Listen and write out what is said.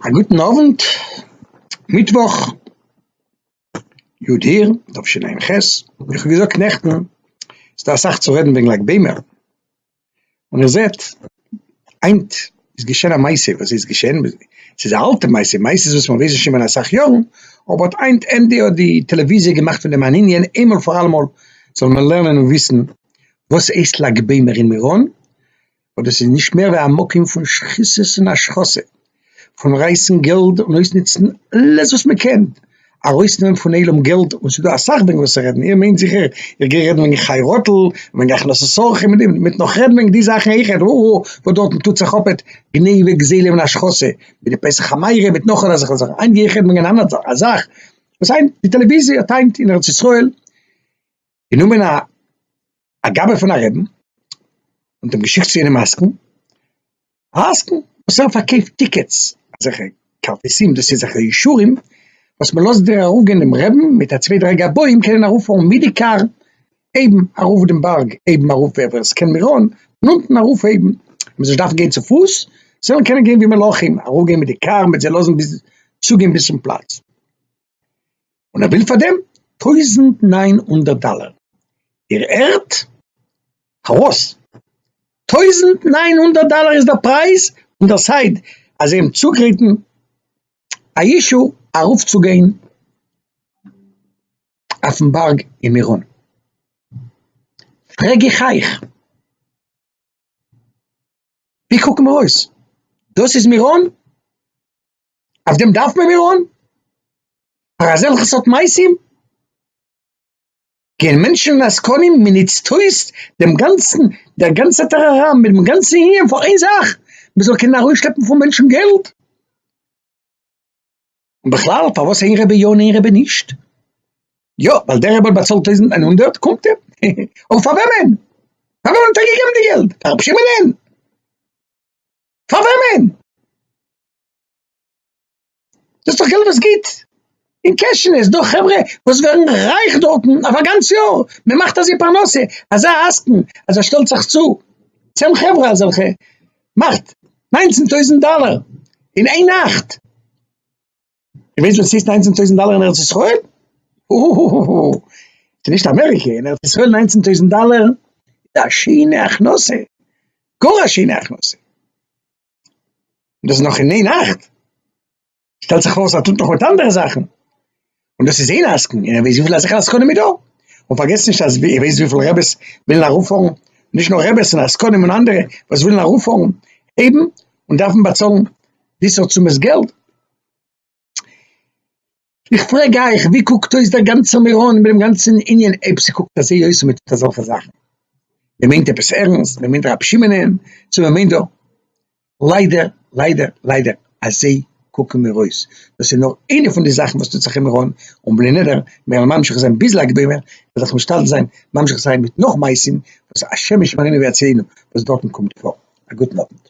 א גוטן אוונט, מיטוואך, י' אייר תשע ע ח, ווי כ'האב געזאגט נעכטן איז דא אסאך צו רעדן וועגן לג בעומר, און איר זעט היינט איז געשען א מעשה, וואס איז געשען? ס'איז א אלטע מעשה, מעשות וואס מען ווייסט שוין פון אסאך יארן, אבער האט היינט ענדע האט די טעלעוויזיע געמאכט פון דעם אן ענין, איינמאל פאר אלעמאל זאל מען לערנען און וויסן וואס הייסט לג בעומר אין מירון, אבער דאס איז נישט מער ווי א מקום פון שחיתות און השחתה, פון רייסן געלט און אויסנוצן אלעס וואס מען קען ארויסנעמען פון עולם געלט, און ס'איז דא אסאך וועגן וואס צו רעדן, איר מיינט זיכער איך גיי רעדן וועגן חייראטל און וועגן הכנסת אורחים און די, מען וועט נאך רעדן וועגן די זאכן אויכעט, הו הו הו, וואס דארטן טוט זיך אפעט גניבה גזילה און השחתה, מיט די פסח חמירא מיט נאך אזעלכע זאכן, היינט גיי איך רעדן וועגן אן אנדערע זאך, א זאך וואס היינט די טעלעוויזיע האט היינט אין ארץ ישראל, גענומען א א גאבע פון א רעבין און דעם געשיקט צו יענעם עסקן, א עסקן וואס ער פארקויפט טיקעטס, אזעלכע כרטיסים, דאס איז אזעלכע אישורים וואס מען לאזט דיר ארויף גיין דעם רעבין מיט א צוויי דריי גבאים קענען ארויף פארן מיט די קאר אויבן ארויף דעם בארג, אויבן ארויף ווער ווער עס קען מירון, און אונטן ארויף אויבן מען זאל נישט דארפן גיין צופוס, זיי זאלן קענען גיין ווי מלאכים, ארויף גיין מיט די קאר מיט זיי לאזן ביז צוגיין ביז צום פלאץ. און ער וויל פאר דעם טויזנט נײַן הונדערט דאלער, איר הערט? פארוואס טויזנט נײַן הונדערט דאלער איז דער פרייז און דער סייד אז זיי האבן צוגעריטן א אישו ארויף צו גיין אויפן בארג אין מירון, פרעג איך אייך ווי קוקן מיר אויס? דאס איז מירון? אויף דעם דארף מען מיר אן? פאר אזעלכע סארט מעשים? גייען מענטשן און עסקנים, מען נוצט אויס דעם גאנצן, דער גאנצער טאראראם מיט דעם גאנצן ענין פאר איין זאך, מען זאל קענען ארויסשלעפן פון מענטשן געלט? און בכלל, פארוואס איין רבי יא און איין רבי נישט? יא, ווייל דער רבי האט באצאלט טויזנט איין הונדערט, קומט ער, אבער פאר וועמען? פאר וועמען האט ער געגעבן די געלט? פאר רבי שמעון'ען? פאר וועמען? דאס איז דאך געלט וואס גייט אין קעשענעס דא חברה וואס ווערן רייך דארטן אויף א גאנץ יאר מען מאכט אזוי פרנסה אזא עסקן אז ער שטעלט זיך צו צען חברה אזעלכע מאכט ניינצן טויזנט דאלער אין איין נאכט די ווייסט וואס ס'הייסט ניינצן טויזנט דאלער אין ארץ ישראל? אההההה ס'איז נישט אמעריקע אין ארץ ישראל ניינצן טויזנט דאלער איז א שיינע הכנסה גאר א שיינע הכנסה. דאס איז נאך אין איין נאכט, שטעלט זיך אויס אז ער טוט נאך מיט אנדערע זאכן, און דאס איז איין עסקן, און ער ווייסט וויפיל אזעלכע עסקנים איז דא, און פארגעסט נישט אז ער ווייסט וויפיל רעבעס ווילן ארויפפארן, נישט נאר רעבעס און עסקנים און אנדערע וואס ווילן ארויפפארן הייבן און דארפן באצאלן וויסער צאמעס געלט. איך פרעג אייך, ווי קוקט אויס דער גאנצער מירון מיט דעם גאנצן ענין, אויב ס'קוקט אזוי אויס און מ'טוט אזעלכע זאכן? מ'מיינט עפעס ערנסט? מ'מיינט רבי שמעונ'ען? צו מ'מיינט דא? ליידער, ליידער, ליידער, אזוי קוקן מיר אויס. דאס איז נאר איינע פון די זאכן וואס טוט זיך אין מירון, און בלי נדר, מיר וועלן ממשיך זיין ביז לג בעומר, מ'זאל זיך משתדל זיין ממשיך זיין מיט נאך מעשים וואס השם ישמרינו ויצילנו וואס דארטן קומט פאר. א גוטן אוונט.